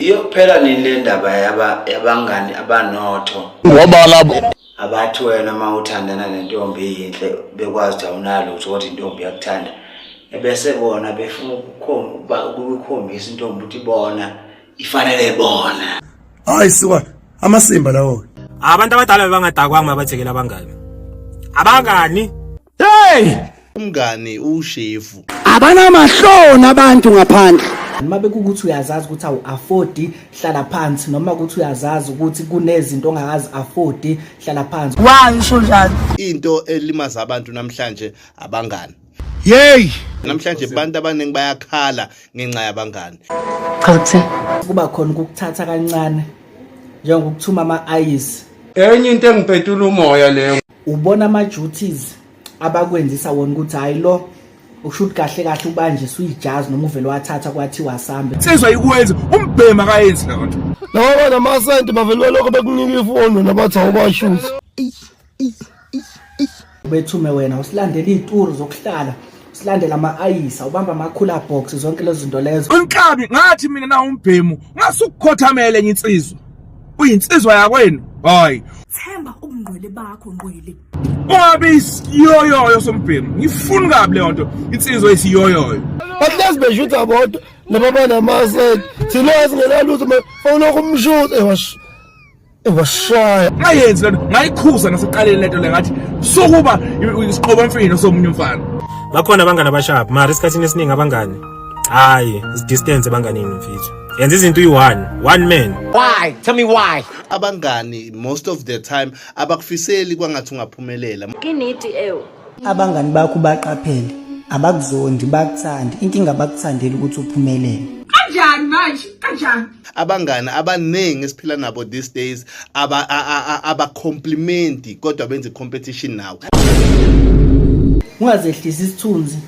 iyophela nini le ndaba yabangani abanotho ngoba labo abathi wena uma uthandana nentombi yinhle bekwazi ukuthi awunalutho kodwa intombi yakuthanda ebese bona befuna ukukhombisa intombi ukuthi bona ifanele bona hayi siwa amasimba lawo abantu abadala bebangadakwanga babathekela abangani abangani hey umngani ushefu abanamahloni abantu ngaphandle noma bekukuthi uyazazi ukuthi awu afford hlala phansi noma ukuthi uyazazi ukuthi kunezinto ongakazi afford hlala phansi why usho njalo into elimaza abantu namhlanje abangani Yey! Namhlanje abantu abaningi bayakhala ngenxa yabangani. Cha kuthini? Kuba khona ukuthatha kancane njengokuthuma ama-ayisi. Enye into engipetula umoya leyo. ubona ama duties abakwenzisa wona ukuthi hayi lo ukusho ukuthi kahle kahle ubanje suyijazi noma uvele wathatha kwathiwa sambe sezwa ikwenza umbhema kayenzi leyo nto noma namasenti bavele balokho bekunika ifoni nabathi awubashuthi ubethume wena usilandela iy'turu zokuhlala silandela ama-ayisa ubamba ama-cooler box zonke lezo zinto lezo unkabi ngathi mina na umbhemu ngasukukhothamele enye insizwa uyinsizwa yakwenu hayi themba ubungqwele bakho ngqwele ungabe isiyoyoyo sombhemu ngifuni kabi leyo nto insizwa isiyoyoyo bahlezi beshutha bodwa nababa namasek thina singenalutho fawulokhu umshuthe washo Washaya. Ngayenzi lento, ngayikhuza naseqaleni lento le ngathi sokuba isiqobo mfino somunye umfana. Bakhona abangani abashap, mara isikhathini esiningi abangani. Hayi, distance ebanganini mfethu. yenza izinto uyi-one one man why tell me why abangani most of the time abakufiseli kwangathi ungaphumelela inidi ewu abangani bakho baqaphele abakuzondi bakuthandi inkinga bakuthandela ukuthi uphumelele kanjani manje kanjani abangani abaningi esiphila nabo these days aba aba compliment kodwa benze competition nawe ungazehlisa isithunzi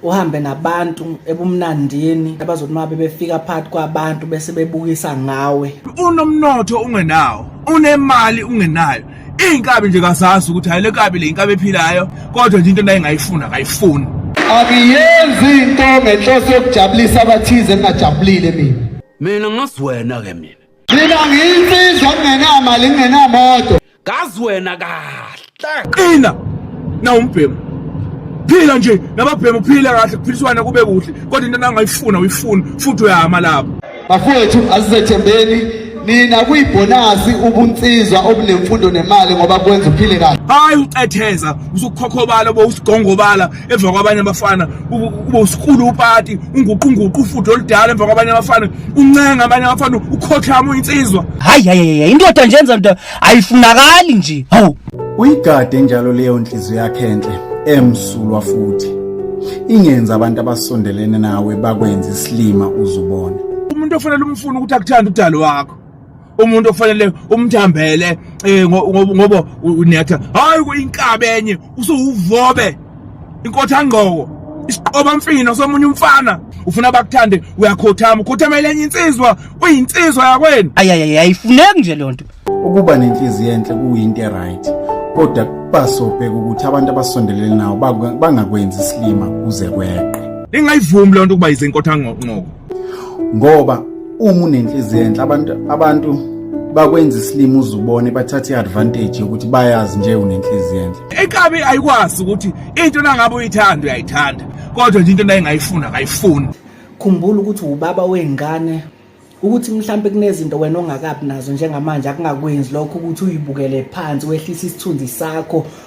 uhambe nabantu ebumnandini abazothi uma bebefika phakathi kwabantu bese bebukisa ngawe unomnotho ungenawo unemali ungenayo iy'nkabi nje kazazi ukuthi hhayi le nkabi le inkabi ephilayo kodwa nje into nayingayifuni akayifuni angiyenzi into ngenhloso yokujabulisa abathize ngingajabulile mina mina ngazi wena ke mina mina ngiyinsizwa ngingenamali ngingenamoto ngazi wena kahle qina nawumbhemu phila nje nababhemu phila kahle kuphiliswana kube kuhle kodwa into nangayifuna uyifuna futhi uyama lapho Bafowethu asizethembeni nina kuyibhonasi ubunsizwa obunemfundo nemali ngoba kwenza uphile kahle hayi ucetheza usukhokhobala bo usigongobala emva kwabanye abafana ube usikulu upati unguqunguqu ufudo oludala emva kwabanye abafana uncenga abanye abafana ukhothama uyinsizwa hayi hayi indoda njenza ndoda ayifunakali nje hawu uyigade njalo leyo nhliziyo yakhe enhle emsulwa futhi ingenza abantu abasondelene nawe bakwenza isilima uzubona umuntu ofanele umfuna ukuthi akuthanda udalo wakho umuntu ofanele umthambele eh, ngoba unetha hayi kuyinkabe enye usuwuvobe inkothangqoko isiqoba mfino somunye umfana ufuna bakuthande uyakhothama ukhothama elenye insizwa uyinsizwa yakwenu ayayay ayifuneki nje lonto ukuba nenhliziyo enhle kuyinto eright kodwa kubasobheka ukuthi abantu abasondelene nawo bangakwenzi isilima kuze kweqe lingayivumi lonto ukuba yize inkothangqoko ngoba uma unenhliziyo enhle abantu abantu bakwenza isilima uzubone bathathe iadvantage yokuthi bayazi nje unenhliziyo enhle ekabi ayikwazi ukuthi into nangabe uyithanda uyayithanda kodwa nje into nayingayifuna akayifuni khumbula ukuthi ubaba wengane ukuthi mhlambe kunezinto wena ongakabi nazo njengamanje akungakwenzi lokho ukuthi uyibukele phansi wehlisa isithunzi sakho